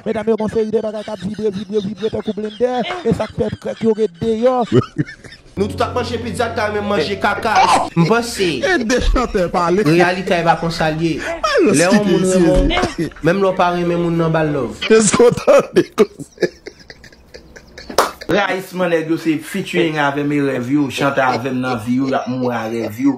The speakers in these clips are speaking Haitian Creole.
Medam yo gon seri de bagay kap vibre vibre vibre tankou blendè e sak fè krèk yo ret deyò. Nou tout ap manje pizza nou ta renmen manje kaka. M panse Reyalite a e pa konsa l ye Lè yon moun renmen w Menm lè w pa renmen moun nan ba l love. Rayisman nèg yo se featuring avèm e rèv yo chante avèm nan vi yo yap mouri a rèv yo.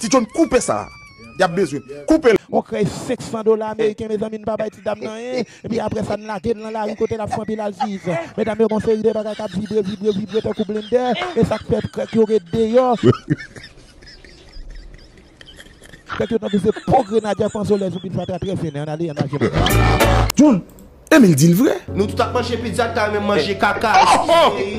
Ti John koupe sa a yap bezwen koupe l. On krèy 500 dola ameriken mezanmi n pa bay ti dam nan anyen epi aprè sa n lage l nan lari kote l ap fanpil al viv medam yo gon seri de bagay kap vibre vibre vibre tankou blendè e sak fè krèk yo ret deyò krèk yo tankou se po grenadya panzolèz ou pi fatra trè fen an ale an al jèm. John Emil dil vre. Nou tout ap manje pizza nou ta renmen manje kaka eskize wi.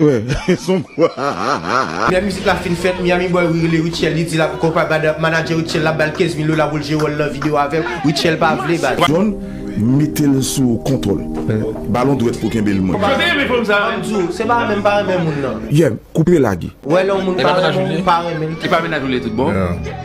Ehh son prank. Lè mizik la fin fèt, Miami Boy rele Rutshelle li di lap kòw pa bad ap manager Rutshelle lap bal 15 mil dola poul jwe wòl nan video avèl, Rutshelle pa vle baz. John metel sou kontwòl. Balon dwèt pou kenbel mwen. Koman te renmen fanm sa menm. Map diw se pa renmen mpa renmen moun nan. Yeah koupe lage. Wè lè yon moun pa renmenw ou pa renmenl. Epa mennaj ou lè tout bon.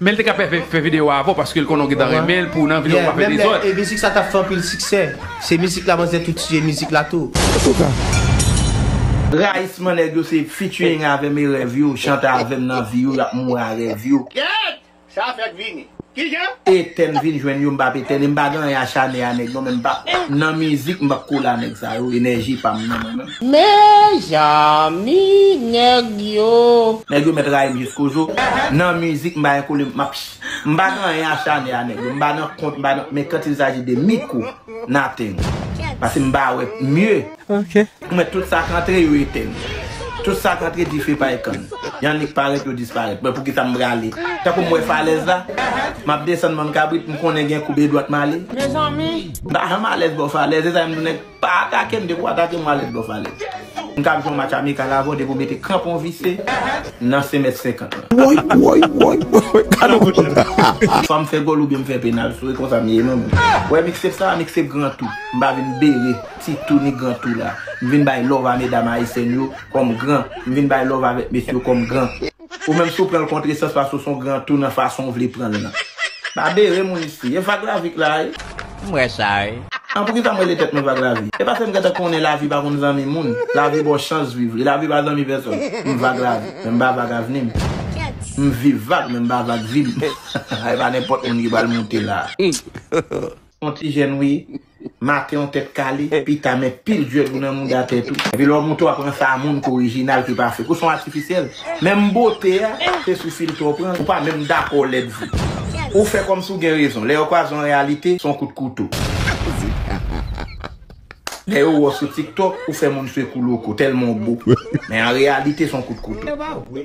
Menl te ka fè video a avèw paskel konnen ou gentan renmenl pou nan videow pa fè dezòd. E mizik sa tap fè anpil siksè. Se mizik la manzè tou tiye mizik la tou. Antouka. Rayisman nèg yo se featuring avèm e rèv yo chante avèm nan vi yo yap mouri a rèv yo. Kèèt! Sa fèk vini. Kijan? Etèn vin jwenn yo mpa p etèn e mpa gen anyen achane a nèg non men mpa nan mizik mpa p kole a nèg sa yo enèji pam nan mwen menm. Mezanmi nèg yo. Nèg yo mèt rayim jisko jou nan mizik mpa gen kole mpa p mpa gen anyen achane a nèg yo mpa nan kont mpa nan men quand il s'agit de micro nothing pase mpa wè mieux. ok. Ou mèt tout sak antre yo etèn tout sak antre dife pa ekann yan nik parèt yo disparèt mwen poukisa m prale tankou m wè falèz la map desann banm kabrit m konnen gen koube dwat male m pa janm alèz bò falèz se sa m di w nèg pa atake m depi w atake m w alèz bò falèz m kab jwe yon match amikal avè w depi w mete kranpon vise nan 5 mèt 50 lan woy woy woy woy gadon moun nan. Swa m fè gòl oubyen m fè penal sou e konsa m ye non menm wè mixtape sa a mixtape gran tou m pa vin bere. Ti tou ni gran tou la. M vin bay love a medam ayisyèn yo kòm gran. M vin bay love avèk mesye yo kòm gran. Ou menm si w pran l kontresans paske w se yon gran tou nan fason w vle pran l nan. Pa bere moun isi. E vag lavi k la wi. M wè sa wi. An poukisa m rele tèt mwen vag lavi? E paske m gentan konnen lavi pa konn zanmi moun. Lavi ba w chans viv li. Lavi pa zanmi pèsòn. M vag lavi. Men m pa vag avni m. M viv vag men m pa vag vi m. E pa nenpòt moun ki pral moute la. On ti jèn wi, maten on tèt kale, pita men pil djwèl ou nan mouda tèt ou. Epi lè w monte w ap pran sa moun k orijinal ki pa fek. Ou s on atifisyèl. Menm bote a, se sou filtè w pran l, ou pa menm dakò w lèd vre. Ou fè kòmsi w gen rezon. Lè yo kwaze on reyalite, s on kout kouto. Lè yo wè w sou tiktok, ou fè moun swe kou loko, tèlman w bo. Men an reyalite se yon kout kouto.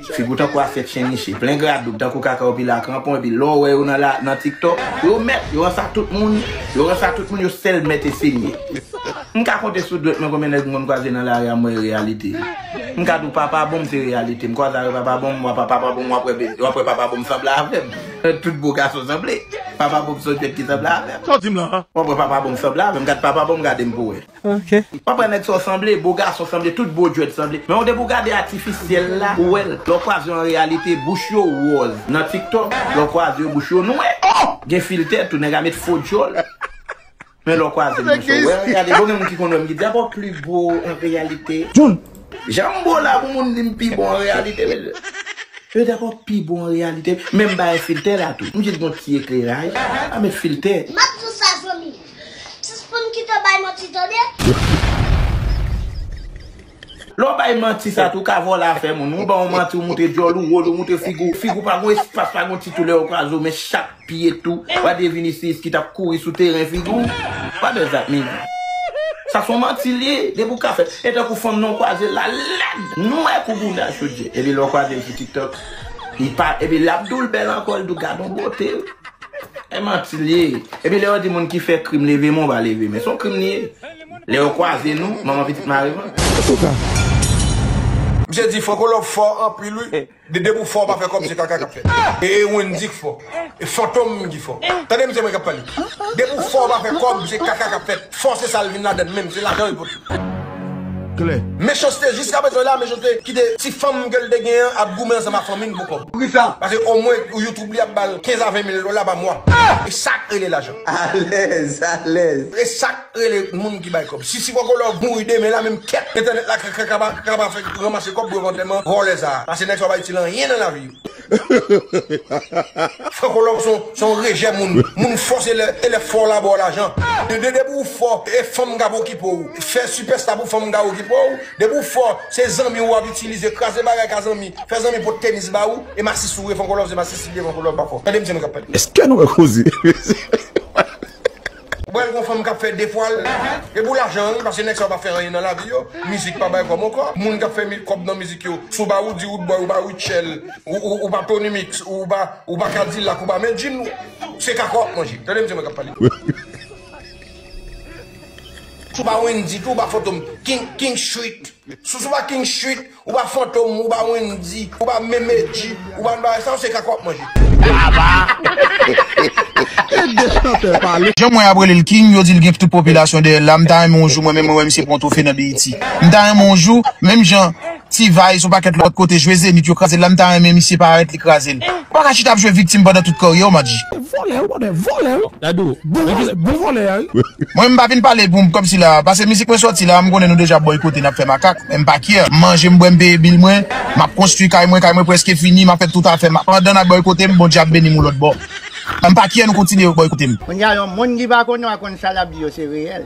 Figi w tankou asyèt chen niche, plen gradoub, tankou kaka ou pile a kranpon epi lè w wè yo nan tiktok, yo mèt, yo ran sa tout moun, yo ran sa tout moun, yo sèl mèt e senyè. M ka konte sou dwèt mwen konbyen nèg m konn kwaze nan lari a m wè e reyalite. M ka di w Papa Bonm se reyalite, m kwaze avèk Papa Bonm, m wè Papa Bonm, w ap wè Papa Bonm sanble avè m. Tout bo gason sanble. Papa bonm son jwet ki sanble avem. Sa w dim la? Mwen pran papa bonm sanble avem gad papa bonm gade m pou we. Ok. Mwen pran neg sa w sanble, bo gason sanble, tout bo jwet sanble. Men w depi w gade atifisyel la ou wel. Le w kwaze yo an reyalite bouch yo woz nan tiktok le w kwaze yo bouch yo nwe. Ohh! Gen filtè tou neg a met fo djol. Men lè w kwaze li mouche w wè l gade bon gen moun ki konn wè m ki di a bon pli gwo an reyalite. Janm bo la pou moun di m pi bon an reyalite mesye. Yo di a bon pi bon an reyalite men m bay filtè la tou m jis gon ti ekleraj pa met filtè. Map sou sa zanmim. Sispann kite bay manti tande. Lè w bay manti sa tou w ka vòlè afè moun. Ou ban yon manti ou moutre dyòl ou, wòl ou, moutre figi w. Figi w pa gon espas, pa gon ti tou lè yo kraze w men chak pye tou pa de Vinicius ki t ap kouri sou teren figi w pa bèl zak min. Sa son manti l ye depi w ka fè l. E tankou fanm nan w kwaze l la lèd, nwè kou bouda chodye. Epi lè w kwaze l sou tiktok li pa epi l ap di w l bèl ankò l di w gadon bote. E manti l ye. Epi lè yo di moun ki fè krim leve men w pa leve men. Son krim li ye. Lè yo kwaze nou, manman pitit mare mwen. Misye di fò kolòb fò anpil wi de depi ou fò ou pa fè kòb se kaka kap fèt e wendy k fò e fantom ki fò tande misye mwen kap pale depi ou fò ou pa fè kòb se kaka kap fèt fò se sal vin ladann menm se lajan yo pote mechanste jiska prezan la mechanste kite ti fanm kel te gen an ap goumen ansanm a fanmil pou kòb poukisa paske omwen youtube li ap bal 15 a 20 mil dola pa mwa esak rele lajan alèz alèz esak. Rele moun ki bay kob. Sisi poko love mouri demen la menm kèt entènèt la kaba fè ranmase kob pou yo fè antèman vòlè sa pase nèg sa yo pa itil anyen nan lavi yo. Franco love son son rejè moun moun fò se lè e lè fò la baw lajan de depi ou fò e fanm kap okipe w fè sipèsta pou fanm ka okipe w depi ou fò se zanmi ou wap itilize kraze bagay ka zanmi fè zanmi pot tenis ba ou e masis ou ye franco love se masisi li ye franco love pa fò tande misye menm kap pale. Eske nou wè koze. Bwèl gon fanm kap fè 2 fwal e pou lajan wi paske nèg sa yo pa fè anyen nan lavi yo mizik pa bay kòm ankò moun kap fè kòb nan mizik yo si w pa Roody Roodboy ou pa Rutshelle ou pa Tony Mix ou pa ou pa Cadillac ou pa Medjine se kaka wap manje tande m se mwen kap pale si w pa Wendy tou ou pa Fantom King King Street si w pa King Street. Ou pa fantom, ou pa wendy, ou pa menm edji, ou pa nan bagay sa yo se kaka wap manje. Jan m wè yap rele l king, yo di l gen tout popilasyon dèyè l la, m ta renmen yon jou mwen menm mwen wè misye pran twofe nan BET. M ta renmen yon jou, menm jan T-vice yon pakèt lòt kote jwe Zenith yo kraze l la m ta renmen misye parèt li kraze l. Ou pa ka chita ap jwe viktim pandan tout karyè w Madji. Vòlè ou bòdè vòlè ou Dadou Bowaz bon vòlè a wi. Mwen m pa vin pale pou m kòm si la pase mizik mwen sòti la m konnen nou deja bòykote n ap fè makak men m pa kyè m manje m bwè m peye bil mwen m ap konstwi kay mwen kay mwen prèske fini m ap fè tout afè m pandan n ap bòykote m Bondye ap beni m yon lòt bò m pa kyè nou kontinye bòykote m. Konnya yon moun ki pa konn yo a konn sa lap di yo se reyèl.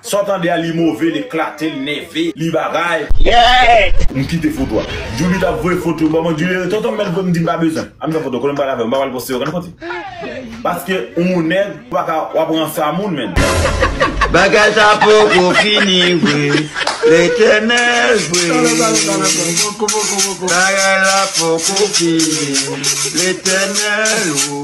Saw tande a li move l eklate l nève li bagay. M kite foto a. Julita ap voye foto yo ba mwen Julie tonton mèl vre m di m pa bezwen ann fè foto kote m pral avèl m pa pral poste okenn kote paske ou nèg ou paka wap ransa moun menn. Bagay sa poko fini vre Letènèl vre Bagay la poko fini Letènèl o.